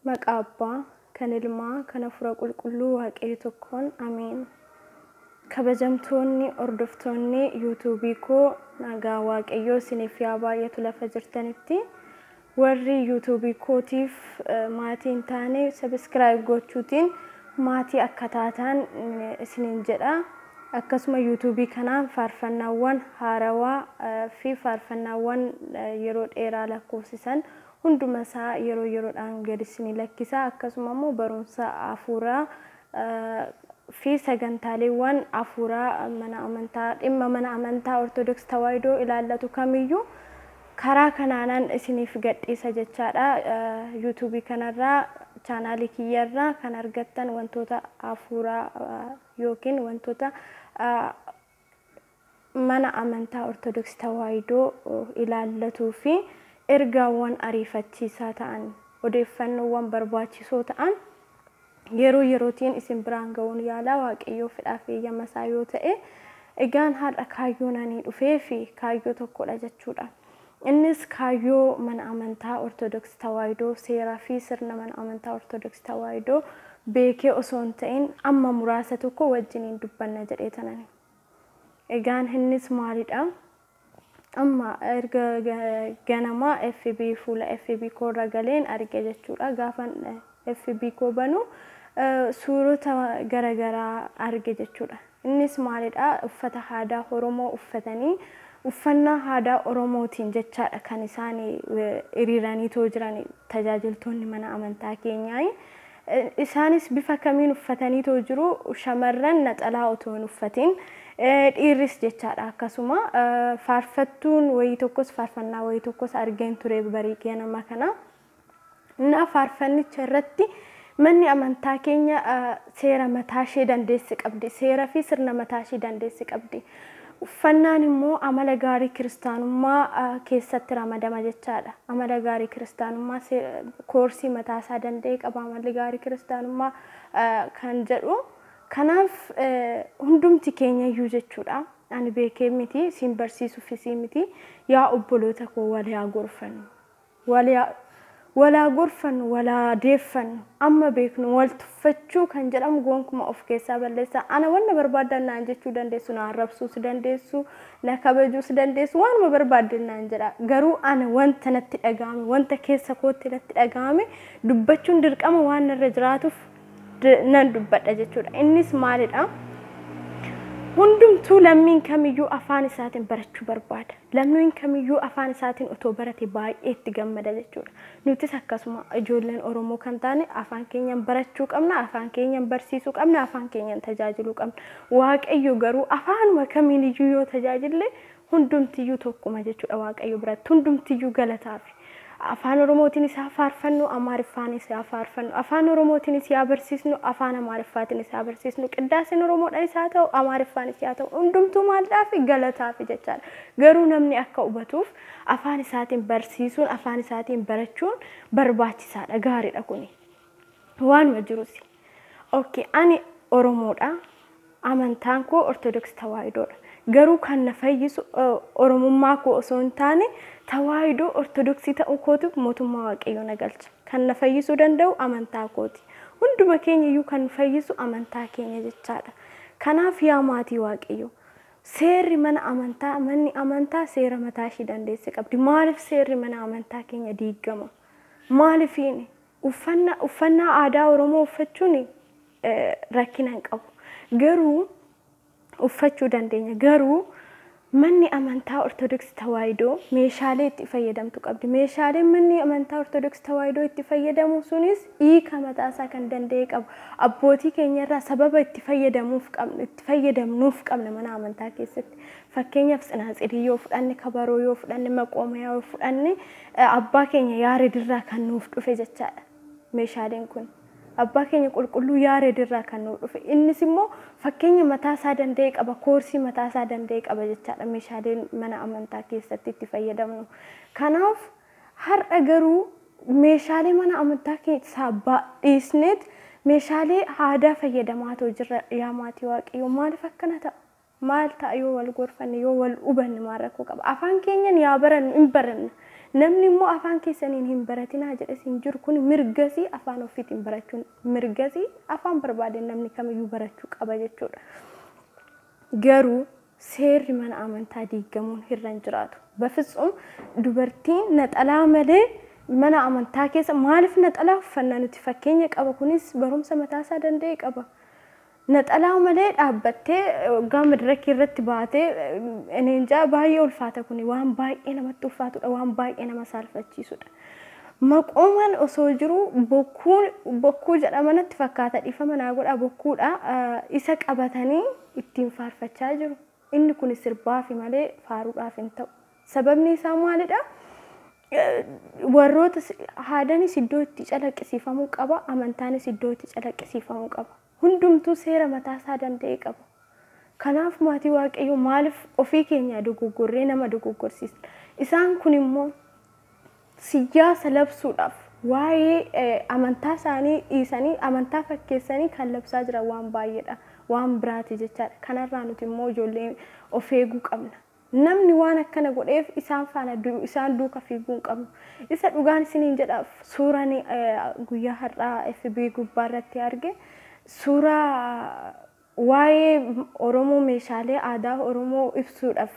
Maqaa Abbaa, kan Ilmaa, kan Hafuura Qulqulluu Waaqayyo tokkoon Ameen. Kabajamtoonni hordoftoonni yuutuubii koo nagaa Waaqayyoo isiniif yaa baay'atu lafa jirtanitti. Warri yuutuubii kootiif eh, maatii hin taane sabiskiraayib gochuutiin maatii akka taataan eh, isiniin jedha. Akkasuma YouTube kanaan faarfannaawwan haarawaa fi faarfannaawwan yeroo dheeraa lakkoofsisan hunduma isaa yeroo yeroodhaan gad isinii lakkisa. Akkasuma immoo barumsa hafuuraa fi sagantaaleewwan hafuuraa mana amantaa dhimma mana amantaa Ortodoks Tawaahidoo ilaallatu kamiyyuu karaa kanaanan isiniif gadhiisa jechaadha. YouTube kanarraa chaanaalii kiyyarraa kan argattan wantoota hafuuraa ykn wantoota mana amantaa Ortodoksii Tawaahidoo ilaallatuu fi ergaawwan ariifachiisaa ta'an, odeeffannoowwan barbaachisoo ta'an yeroo yerootiin isin biraan ga'uun yaala, Waaqayyoo fedhaa fi eeyyama isaa yoo ta'e. Egaan har'a kaayyoon ani dhufeef kaayyoo tokko dha jechuu dha. Innis kaayyoo Mana Amantaa Ortodoksii Tawaahidoo, seeraa fi sirna Mana Amantaa Ortodoksii Tawaahidoo beekee osoo hin ta'in amma muraasa tokko wajjiniin dubbanna jedheetanani. Egaan innis maalidha? Amma erga ganama FB fuula FB koo irra galeen arge jechuudha. Gaafan FB koo banu suurota garagaraa arge jechuudha. Innis maalidha? Uffata haadaa Oromoo uffatanii uffannaa haadaa Oromootiin jechaadha kan isaan hiriiraniitoo jiran tajaajiltoonni mana amantaa keenyaa. Isaanis bifa kamiin uffataniitoo jiru? Shamarran naxalaa otoo hin uffatiin, dhiirris jechaadha akkasuma. Faarfattuun wayii tokkos faarfannaa wayii tokkos argeen ture barii ganama kana. Ffaa Faarfannicha irratti Manni amantaa keenya seera mataa ishee dandeesse qabdi. Seera fi sirna mataa ishee dandeesse qabdi. Uffannaan immoo amala gaarii kiristaanummaa keessatti ramadama jechaadha. Amala gaarii kiristaanummaa koorsii mataa isaa danda'e qaba amalli gaarii kiristaanummaa kan jedhu. Kanaaf hundumti keenya iyyuu jechuudha. Ani beekee miti, siin barsiisuufis miti. Yaa obboloota koo wal yaa gorfannu. Wal haa gorfannu, wal haa deeffannu, amma beeknu wal tuffachuu kan jedhamu gonkuma of keessaa balleessa. Ana wanna barbaaddan naan jechuu dandeessu, na arrabsuus dandeessu, na kabajuus dandeessu, waanuma barbaaddan naan jedha. Garuu ana wanta natti dhaga'ame, wanta keessa kootti natti dhaga'ame dubbachuun dirqama waan narra jiraatuuf, nan dubbadha jechuudha. Innis maalidha? Hundumtuu lammiin kamiyyuu afaan isaatiin barachuu barbaada. Lammiin kamiyyuu afaan isaatiin otoo barate baay'ee itti gammada jechuudha. Nutis akkasuma ijoolleen Oromoo kan taane afaan keenyaan barachuu qabna, afaan keenyaan barsiisuu qabna, afaan keenyaan tajaajiluu qabna. Waaqayyo garuu afaanuma kamiiniyyuu yoo tajaajille Hundumtiyyuu tokkuma jechuudha Waaqayyo biratti. Hundumtiyyuu galataafi. Afaan Oromootiinis haa faarfannu, Amaariffaanis haa faarfannu. Afaan Oromootiinis yaa barsiisnu, Afaan Amaariffaatiinis haa barsiisnu. Qiddaaseen Oromoodhaanis haa ta'u, Amaariffaanis yaa ta'u hundumtuu maaldhaafi? Galataafi jechaadha. Garuu namni akka hubatuuf afaan isaatiin barsiisuun, afaan isaatiin barachuun barbaachisaadha. Gaariidha kuni. Waanuma jiru si. Ok ani oromoodha amantaan koo ortodoksi tawaayidoodha garuu kan na fayyisu oromummaa koo osoo hin taane tawaayidoo ortodoksii ta'uu kootu mootummaa waaqayyoo na galcha kan na fayyisuu danda'u amantaa kooti hunduma keenya iyyuu kan nu fayyisu amantaa keenya jechaadha kanaaf yaa maatii waaqayyoo seerri mana amantaa manni amantaa seera mataa ishii dandeesse qabdi maaliif seerri mana amantaa keenya diiggama maalifiini Uffanna, uffannaa aadaa Oromoo uffachuun rakkina hin qabu. Garuu uffachuu dandeenya. Garuu manni amantaa Ortodoksii Tawaahidoo meeshaalee itti fayyadamtu qabdi. Meeshaaleen manni amantaa Ortodoksii Tawaahidoo itti fayyadamu sunis hiika mataasaa kan danda'e qabu. Abbootii keenyarraa sababa itti fayyadamuuf qabnu, itti fayyadamnuuf qabna mana amantaa keessatti. Fakkeenyaaf tsinaatsirii yoo fudhanne, kabaroo yoo fudhanne, maqoomayaa yoo fudhanne Abbaa keenya Yaared irraa kan nuuf dhufe jechaadha meeshaaleen kun. Abbaa keenya qulqulluu Yaared irraa kan nuuf dhufe. Innis immoo fakkeenya mataa isaa danda'e qaba, koorsii mataa isaa danda'e qaba jechaadha meeshaaleen mana amantaa keessatti itti fayyadamnu. Kanaaf har'a garuu meeshaalee mana amantaa keessaa baadhiisneet meeshaalee aadaa fayyadamaa too jirra yaa maatii waaqayyoo maaliif akkana ta'a? Maal ta'a yoo wal gorfanne, yoo wal hubanne maal rakkoo qaba? Afaan keenyan yaa barannu, hin baranna. Namni immoo afaan keessaniin hin baratinaa jedhes hin jiru. Kuni mirgasii afaan offiitiin barachuun mirgasii afaan barbaadeen namni kamiyyuu barachuu qaba jechuudha. Garuu seerri mana amantaa diiggamuun hirra hin jiraatu. Bafitsum dubartiin naxalaa malee mana amantaa keessa maaliif naxalaa uffanna nuti fakkeenya qaba kunis barumsa mataa isaa danda'e qaba. Naxalaa malee dhaabbattee oggaa madirakii irratti baate ani injaa baay'ee ulfaata kuni waan baay'ee namatti ulfaatudha waan baay'ee nama saalfachiisudha. Maqooman osoo jiruu bokkuu bokkuu jedhama natti fakkaata dhiifama naa godhaa bokkuudha isa qabatanii ittiin faarfachaa jiru. Inni kuni sirbaafi malee faaruudhaaf hin ta'u. Sababni isaa maalidha? Warroota aadanis iddoo itti calaqqisiifamuu qaba, amantaanis iddoo itti calaqqisiifamuu qaba. Hundumtuu seera mataa isaa danda'e qaba. Kanaaf maatii Waaqayyoo maaliif ofii keenyaa dogoggorree nama dogoggorsiisna? Isaan kun immoo siyyaasa labsuudhaaf waa'ee amantaa isaanii dhiisanii amantaa fakkeessanii kan labsaa jiran waan baay'eedha. Waan biraati jechaadha. Kanarraa nuti immoo ijoolleen of eeguu qabna. Namni waan akkana godheef isaan faana isaan duuka fiiguu hin qabnu. Isa dhugaan isiniin jedha suuraan guyyaa har'aa FB gubbaarratti arge suuraa Waa'ee Oromoo meeshaalee aadaa Oromoo ibsuudhaf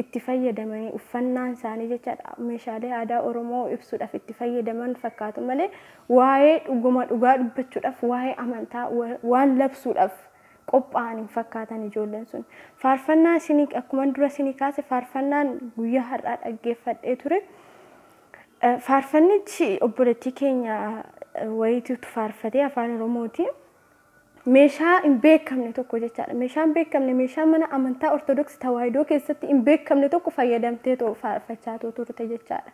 itti fayyadamanii uffannaan isaanii jechaadha meeshaalee aadaa Oromoo ibsuudhaf itti fayyadaman fakkaatu malee waa'ee dhuguma dhugaa dubbachuudhaf waa'ee amantaa waan labsuudhaf qophaa'an hin fakkaatan ijoolleen sun. Faarfannaa isinii akkuman dura isinii kaase faarfannaan guyyaa har'aa dhaggeeffadhee ture. Faarfannichi obboleettii keenya wayiitu faarfatee afaan Oromootiin. meeshaa hin beekamne tokko jechaadha. Meeshaa hin beekamne, meeshaa mana amantaa Ortodoksii Tawaahidoo keessatti hin beekamne tokko fayyadamteetoo faarfachaatoo turte jechaadha.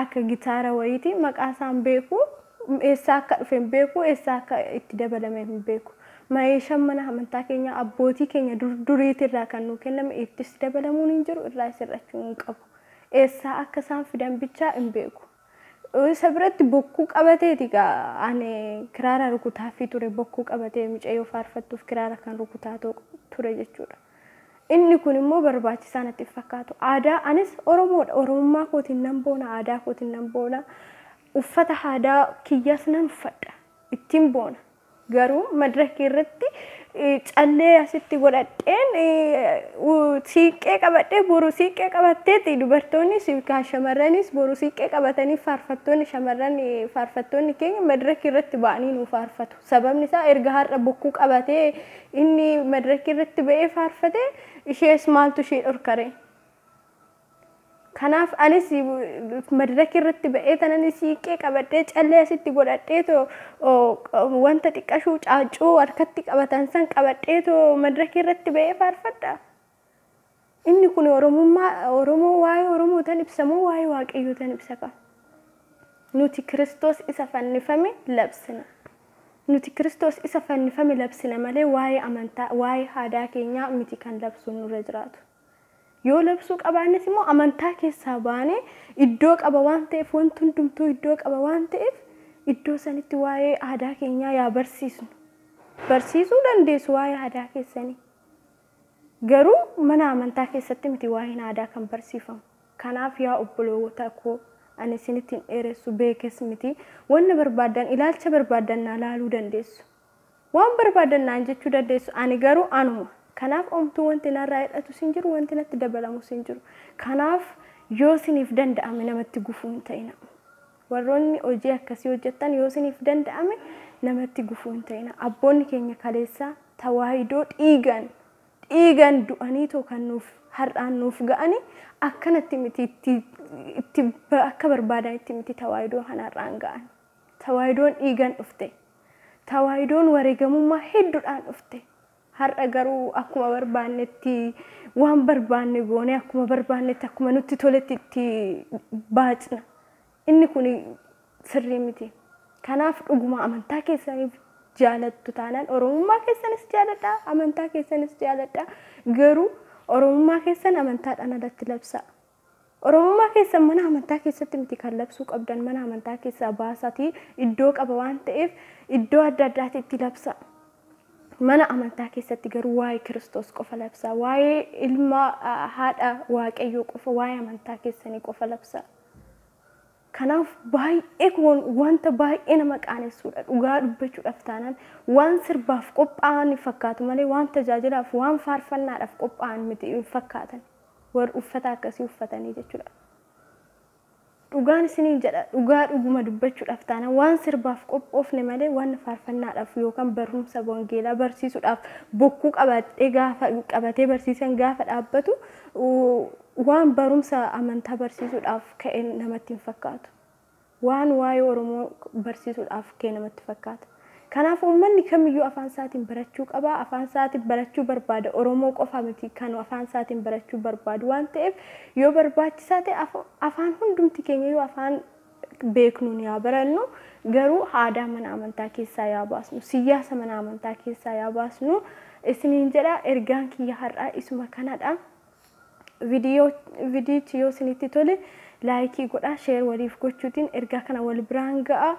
Akka gitaara wayiiti. Maqaa isaa hin beeku. Eessaa akka dhufe hin beeku. Eessaa akka itti dabalame hin beeku. Meeshaan mana amantaa keenyaa abbootii keenya dur duriitirraa kan nuu kenname ittis dabalamuun hin jiru, irraas hir'achuu hin qabu. Eessaa akka isaan fidan bichaa hin beeku. Isa biratti bokkuu qabateeti egaa ani kiraara rukutaaffii ture bokkuu qabatee mucayyoo faarfattuuf kiraara kan rukutaa ture jechuudha. Inni kun immoo barbaachisaa natti hin fakkaatu. Aadaa anis Oromoodha. Oromummaa kootiin nan boona, aadaa kootiin nan boona. Uffata aadaa kiyyaas nan uffadha. Ittiin boona. Garuu madraka irratti callee asitti godhadheen siiqqee qabadhee boru siiqqee qabatteeti dubartoonnis yookaan shamarranis boru siiqqee qabatanii faarfattoonni shamarran faarfattoonni keenya madraka irratti ba'anii nu faarfatu. Sababni isaa erga har'a bokkuu qabatee inni madraka irratti ba'ee faarfate ishees maaltu ishee dhorkare. Kanaaf anis madiraki irratti ba'ee tanani siiqqee qabadhee callee asitti godhadhee too wanta xiqqashuu caaccuu harkatti qabatan san qabadhee too madiraki irratti ba'ee faarfadha. Inni kun Oromummaa Oromoo waa'ee Oromoo tan ibsamoo waa'ee Waaqayyoo tan ibsa qaba. Nuti Kiristoos isa fannifame labsina. Nuti Kiristoos isa fannifame labsina malee waa'ee amantaa waa'ee haadaa keenyaa miti kan labsuun nurra jiraatu. Yoo labsuu qabaannes immoo amantaa keessaa baanee iddoo qaba waan ta'eef wanti hundumtuu iddoo qaba waan ta'eef iddoo sanitti waa'ee aadaa keenyaa yaa barsiisnu. Barsiisuu dandeessu waa'ee aadaa keessanii. Garuu mana amantaa keessatti miti waa'een aadaa kan barsiifamu. Kanaaf yaa obboloota koo ani isinitti hin dheeressu beekes miti. Wanna barbaaddan ilaalcha barbaaddan naa laaluu dandeessu. Waan barbaadan naan jechuu dandeessu, ani garuu anuma. Kanaaf omtuu wanti narraa hir'atus hin jiru, wanti natti dabalamus hin jiru. Kanaaf yoo isiniif danda'ame namatti gufuu hin ta'inaa. Warroonni hojii akkasii hojjettan yoo isiniif danda'ame namatti gufuu hin ta'inaa. Abboonni keenya kaleessaa tawaahidoo dhiigaan, dhiigaan du'aniitoo kan nuuf har'aan nuuf ga'ani akkanatti miti itti, itti akka barbaadanitti miti tawaahidoo kan har'aan ga'ani. Tawaahidoon dhiigan dhufte. Tawaahidoon wareegamummaa heddudhaan dhufte. Har'a garuu akkuma barbaannetti waan barbaanne goonee akkuma barbaannetti akkuma nutti toletti itti baacna. Inni kun sirrii miti. Kanaaf dhuguma amantaa keessaniif jaalattu taanaan Oromummaa keessanis jaaladha, amantaa keessanis jaaladha. Garuu Oromummaa keessan amantaadhaan alatti labsaa. Oromummaa keessan mana amantaa keessatti miti kan labsuu qabdan mana amantaa keessaa baasaatii iddoo qaba waan ta'eef iddoo adda addaati itti labsaa. Mana amantaa keessatti garuu waa'ee Kiristoos qofa labsaa. Waa'ee ilma ah, haadha waaqayyoo qofa waa'ee amantaa keessanii qofa labsaa. Kanaaf baay'ee kun wanta baay'ee nama qaanessuudha. Dhugaa dubbachuudhaaf taanaan waan sirbaaf qophaa'an fakkaatu malee waan tajaajilaaf waan faarfannaadhaaf qophaa'an miti hin fakkaatan. warri uffata akkasii uffatanii jechuudha. Dhugaan isiniin jedha dhugaa dhuguma dubbachuudhaaf taana waan sirbaaf qophoofne malee waan faarfannaadhaaf yookaan barumsa wangeelaa barsiisuudhaaf bokkuu qabatee gaafa qabatee barsiisan gaafa dhaabbatu waan barumsa amantaa barsiisuudhaaf ka'e namatti hin fakkaatu. Waan waa'ee Oromoo barsiisuudhaaf ka'e namatti fakkaata. Kanaaf uummanni kamiyyuu afaan isaatiin barachuu qaba. Afaan isaatiin barachuu barbaada. Oromoo qofa miti kan afaan isaatiin barachuu barbaadu waan ta'eef yoo barbaachisaa ta'e afaan hundumti keenyayyuu afaan beeknuun yaa barannu garuu aadaa mana amantaa keessaa yaa baasnu siyyaasa mana amantaa keessaa yaa baasnu isiniin jedha ergaan kiyya har'aa isuma kanadha. Vidiyoo vidiyichi yoo isinitti tole laayikii godhaa sheer waliif gochuutiin ergaa kana wal biraan ga'aa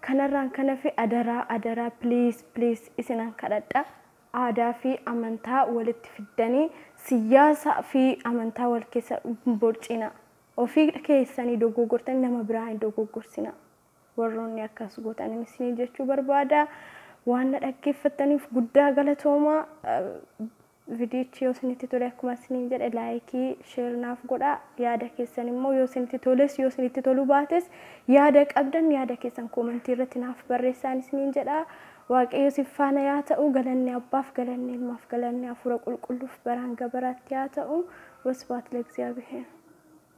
kanarraan kan hafe adaraa adaraa please please isinan kadhadha aadaa fi amantaa walitti fiddanii siyyaasa fi amantaa wal keessa hin borciinaa ofii keessanii dogoogortanii nama biraa hin dogoogorsinaa warroonni akkas gootanin isinii jechuu barbaada waan na dhaggeeffattaniif guddaa galatoomaa. Vidiyichi yoo isinitti tole akkuma isiniin jedhe like share naaf godhaa yaada keessan immoo yoo isinitti toles yoo isinitti toluu baates yaada qabdan yaada keessan koomentii irratti naaf barreessaan isiniin jedha waaqayyo isin faana yaa ta'u galanni abbaaf galanni ilmaaf galanni hafuura qulqulluuf baraan gabaraatti yaa ta'u wasbaat lagziyaabiheer.